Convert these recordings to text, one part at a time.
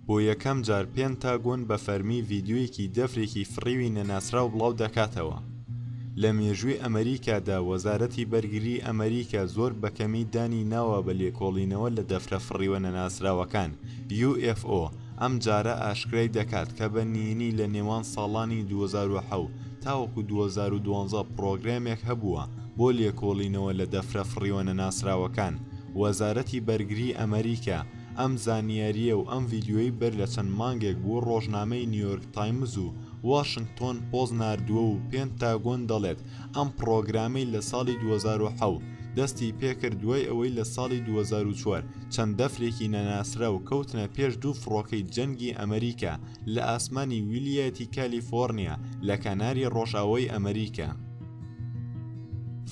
بۆ یەکەم جار پێنتاگۆن بە فەرمی ڤیددیویەکی دەفرێکی فڕیوی نەناسراو بڵاو دەکاتەوە لە مێژووی ئەمریکادا وەزارەتی بەرگری ئەمریکا زۆر بەکەمی دانی ناوە بە لێکۆڵینەوە لە دەفرە فڕیوە نەناسراوەکان UFO ئەمجارە ئاشکرای دەکات کە بە نینی لە نێوان ساڵانی دوو هەزار و حەوت تاوەکو دوو هەزار و دوازدە پڕۆگرامێک هەبووە بۆ لێکۆڵینەوە لە دەفرە فڕیوەنە ناسراوەکان وەزارەتی بەرگری ئەمەریکا ئەم زانیارییە و ئەم ڤیدیۆی بەر لە چەند مانگێک بۆ ڕۆژنامەی نیۆرک تایمز و واشنگتۆن پۆست ناردووە و پێنتاگۆن دەڵێت ئەم پڕۆگرامەی لە ساڵی دوو هەزار و حەوت دەستی پێکرد دوای ئەوەی لە ساڵی دوو هەزار و چوار چەند دەفرێکی نەناسراو کەوتنە پێش دوو فڕۆکەی جەنگی ئەمریکا لە ئاسمانی ویلیەتی کالیفۆرنیا لە کەناری ڕۆژئاوای ئەمریکا.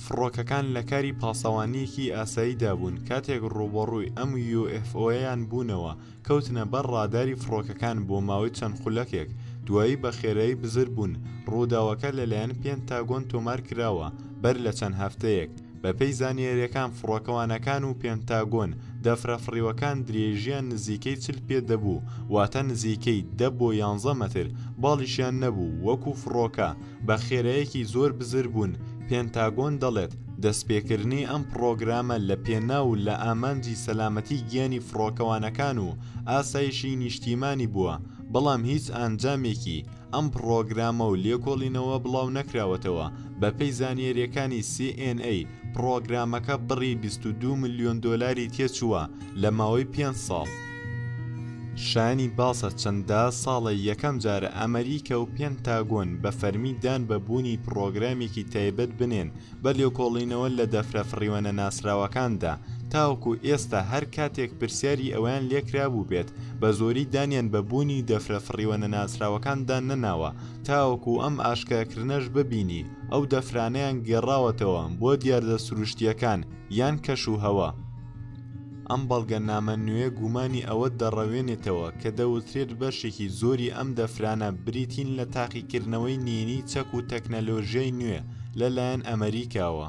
فڕۆکەکان لە کاری پاسەوانییەکی ئاساییدا بوون کاتێک ڕووبەڕووی ئەم یوئێفئۆیەیان بوونەوە، کەوتنە بەر ڕاداری فڕۆکەکان بۆ ماوەی چەند خولەکێک، دوایی بە خێرایی بزر بوون، ڕووداوەکە لەلایەن پێنتاگۆن تۆمار کراوە، بەر لە چەند هەفتەیەک، بەپێی زانیارییەکان فڕۆکەوانەکان و پێنتاگۆن دەفرە فڕیوەکان درێژییان نزیکەی چل پێ دەبوو واتە نزیکەی دە بۆ یانزە مەتر باڵیشیان نەبوو وەکو فڕۆکە بە خێرایەکی زۆر بزر بوون پێنتاگۆن دەڵێت دەستپێکردنی ئەم پڕۆگرامە لە پێناو و لە ئامانجی سەلامەتی گیانی فڕۆکەوانەکان و ئاسایشی نیشتیمانی بووە بەڵام هیچ ئانجامێکی ئەم پڕۆگرامە و لێکۆڵینەوە بڵاو نەکراوەتەوە، بەپێی زانیارییەکانی سی ئێن ئەی، پڕۆگرامەکە بڕی بیست و دوو ملیۆن دۆلاری تێچووە لە ماوەی پێنج ساڵ. شایانی باسە چەندە ساڵە یەکەم جارە ئەمەریکا و پێنتاگۆن بە فەرمی دان بە بوونی پڕۆگرامێکی تایبەت بنێن بە لێکۆڵینەوە لە دەفرە فڕیوەنە ناسراوەکاندا تاوەکو ئێستا هەر کاتێک پرسیاری ئەوەیان لێکرابوو بێت بە زۆری دانیان بە بوونی دەفرە فڕیوەنە ناسراوەکاندا نەناوە تاوەکو ئەم ئاشکراکردنەش ببینی ئەو دەفرانەیان گێڕاوەتەوە بۆ دیاردە سروشتییەکان یان کەش و هەوا ئەم بەڵگەنامە نوێیە گومانی ئەوە دەڕەوێنێتەوە کە دەوترێت بەشێکی زۆری ئەم دەفرانە بریتین لە تاقیکردنەوەی نینی چەک و تەکنەلۆژیای نوێ لە لایەن ئەمەریکاوە.